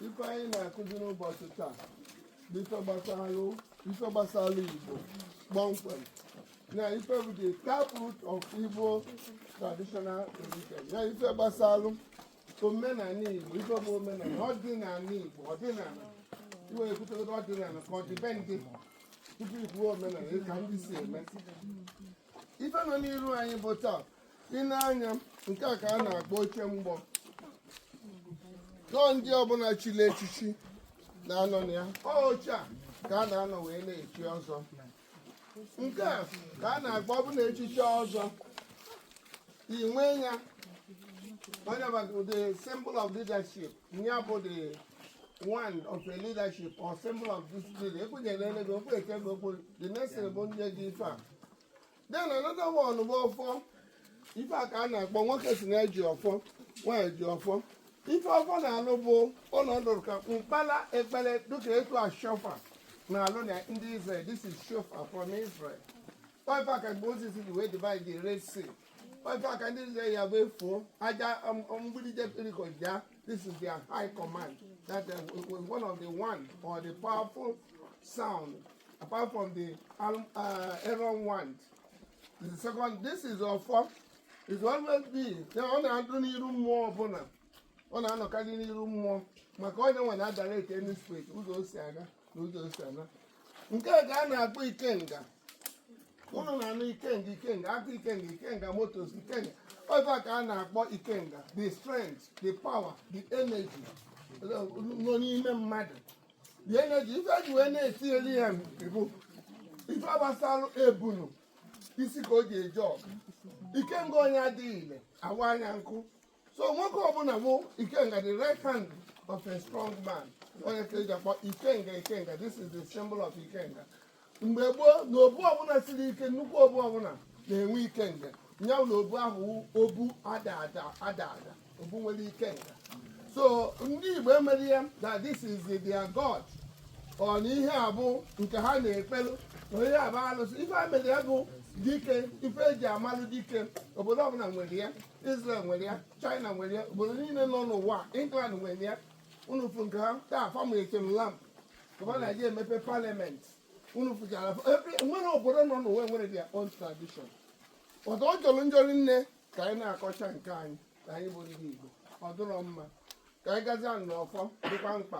ife anyị na-akụzi n'ụbọchị taa bụ ife gbasara ife gbasara Igbo kpọmkwem na ife bụ the taproot of Igbo traditional religion na ife gbasara omenala Igbo ife bụ omenala ọdịnala Igbo ọdịnala i wee kwutegodo ọdịnala ka ọdịbendị tupu i kwuo omenala ka ndị si eme ife nọ n'iru anyị bụ taa ị na-anya nke a ka a na-akpọ oche mgbo na ọ ndị ọbụla chili echichi na-anọ na ya ọ oche a ka a na-anọ wee na-echi ọzọ nke a ka a na-akpọ ọbụla echichi ọzọ inwe ya ọ nya bụ the symbol of leadership ya bụ the wand of a leadership or symbol of discipline ekwenyere ele gị okwu eke gị okwu the next thing bụ nye gị ife a then another one bụ ọfọ ife a ka a na-akpọ nwoke si na-eji ọfọ nwaanyị ji ọfọ ife ọfọ na-alụ bụ ọ nọdụrụ ka mkpala ekpere dịka etu a shofar na-alụ na ndị Israel this is shofar from Israel ọ ife a ka Moses ji wee divide the Red Sea ife a ka ndị Israel ya bụ afụọ aja mgbidi Jericho daa this is their high command that uh, it was one of the one of the powerful sound apart from the Al- uh, Aaron wand the second this is ọfọ is always be na ọ na-adụ n'iru mmụọ ọbụla ọ na-anọkarị n'iru mmụọ maka ọ nya nwe na-adirect any spirit ụzọ o si aga na ụzọ o si ana nke a ka a na-akpọ ikenga ụnụ na-anụ ikenga ikenga aka ikenga ikenga Motors ikenga ọ ife a ka a na-akpọ ikenga the strength the power the energy nọ n'ime mmadụ the energy ife eji wee na-etinyere ya bụ ife gbasara ebunu isi ka o ji eje ọgụ ikenga onye adịghị ile awaa nya nkụ so nwoke ọbụla bụ ikenga the right hand of a strong man ọ nya ka eji akpọ ikenga ikenga this is the symbol of ikenga mgbe gboo na obu ọbụla siri ike nnukwu obu ọbụla na-enwe ikenga ya na obu ahụ obu ada ada obu nwere ikenga so ndị igbo emere ya that this is their god ọ na ihe a bụ nke ha na-ekpelu na ọ nya bụ alụsị ife a mere ya bụ dike ife eji amalụ dike obodo ọbụla nwere ya Israel nwere ya China nwere ya obodo niile nọ n'ụwa England nwere ya unu fụ nke ha taa famuletem lamp ka ọ na-eji emepe parliament unu fụchara nwere obodo nọ n'ụwa nwere their own tradition ọtọ ọ jọrọ njọ rinne ka anyị na-akọcha nke anyị ka anyị bụ ndị Igbo ọ dụrọ mma ka anyị gazie n'ọfọ dịkwa mkpa